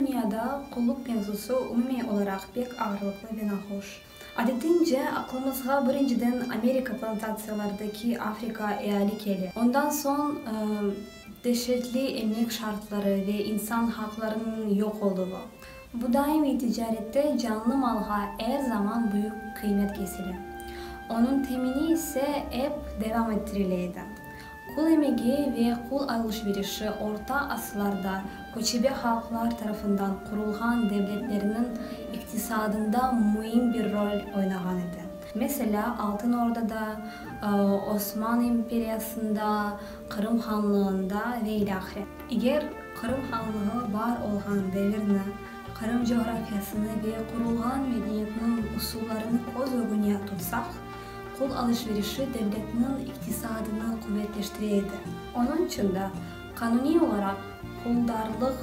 Dünyada qulluq mevzusı umumiy olaraq pek ağırlıqlı ve nahoş. Adetiñce, aqlımızğa birinciden Amerika plantatsiyalardaki Afrika eali kele, ondan soñ deşetli emek şartları ve insan haqlarınıñ yoq oluvı. Bu daimiy ticarette canlı malğa er zaman büyük qıymet kesile, onıñ temini ise ep devam ettirile edi. Qul emegi ve qul alış-verişi orta asırlarda köçebe halqlar tarafından qurulğan devletlerniñ iqtisadında müim bir rol oynağan edi. Meselâ, Altın Ordada, Osman imperiyasında, Qırım Hanlığında ve ile ahire. Eger Qırım Hanlığı bar olğan devirni, Qırım coğrafiyasını ve qurulğan medeniyetniñ usullarını köz ögüne tutsaq, Qul alış-verişi devletniñ iqtisadını quvetleştire edi. Onıñ içün de qanuniy olaraq puldarlıq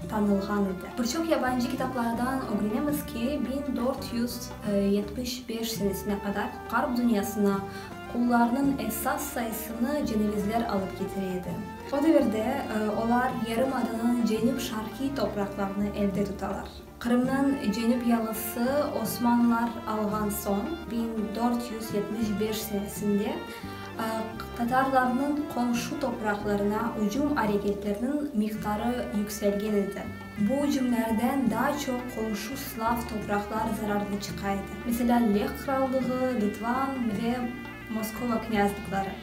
tanılğan edi. Bir çoq yabancı kitaplardan ögrenemiz ki, biñ dört yüz yetmiş beş senesine qadar Ğarp dünyasına qullarnıñ esas sayısını cenevizler alıp ketire edi. O devirde olar yarımadanıñ cenüp-şarqiy topraqlarını elde tutalar. Qırımnıñ cenüp yalısı Osmanlılar alğan soñ, biñ dört yüz yetmiş beş senesinde tatarlarnıñ qomşu topraqlarına ücüm areketleriniñ miqdarı yükselgen edi. Bu ücümlerden daa çoq qomşu slav topraqlar zararlı çıqa edi, meselâ, Leh Qırallığı, Litvan ve Moskova knâzlıqları.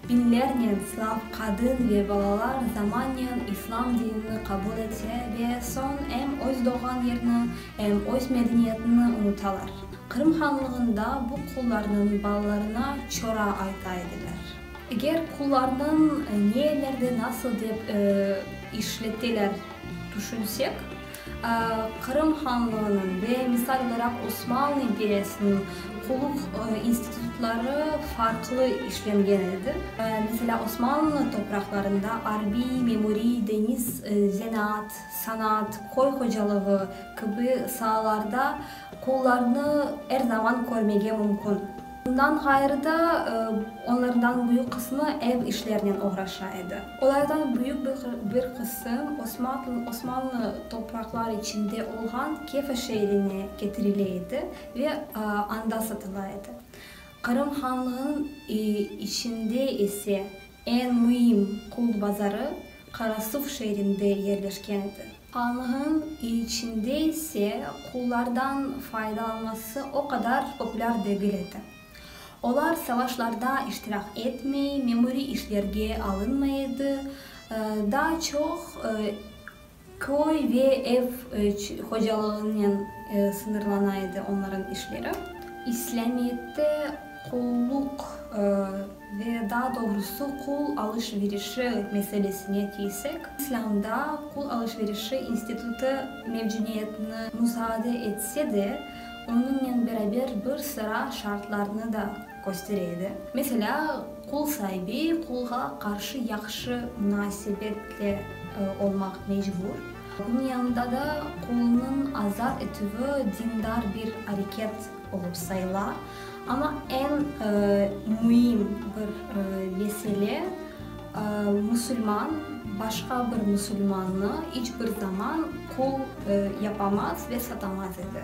Biñlernen slav qadın ve balalar zamanen islam dinini qabul ete ve soñ em öz doğğan yerini, em öz medeniyetini unutalar. Qırım Hanlığında bu qullarnıñ balalarına çora ayta ediler. Eger qullarnıñ ne yerlerde nasıl dep işleteler tüşünsek. Qırım Hanlığınıñ ve misal olaraq Osmanlı imperiyasınıñ qulluq institutları farqlı işlengen edi. Meselâ, Osmanlı topraqlarında arbiy, memuriy, deñiz, zenaat, sanaat, köy hocalığı kibi saalarda qullarnı er zaman körmege mümkün. Bundan ğayrı da, onlardan büyük qısmı ev işlerinen oğraşa edi. Olardan büyük bir qısım Osmanlı topraqları içinde olğan Kefa şeerine ketirile edi ve anda satıla edi. Qırım Hanlığınıñ içinde ise Eñ müim qult bazarı Qarasuv şeerinde yerleşken edi. Anğın içinde ise qullardan faydalanması o qadar populâr degil edi. Olar savaşlarda iştirak etmey, memuriy işlerge alınmay edi, daa çoq Köy ve ev hocalığınen sıñırlana edi onların işleri. İslâmiyette qulluq ve daa doğrusı qul alış-verişi meselesine kelsek, İslâmda qul alış-verişi institutı mevcudiyetini musaade etse de, onıñnen beraber bir sıra şartlarnı da Köstere edi. Meselâ, qul saibi qulğa qarşı yahşı munasebetli olmaq mecbur. Bunıñ yanında da qulunıñ azat etüvi dindar bir areket olıp sayıla. Amma eñ müim bir mesele, musulman başqa bir musulmannı iç bir zaman qul yapamaz ve satamaz edi.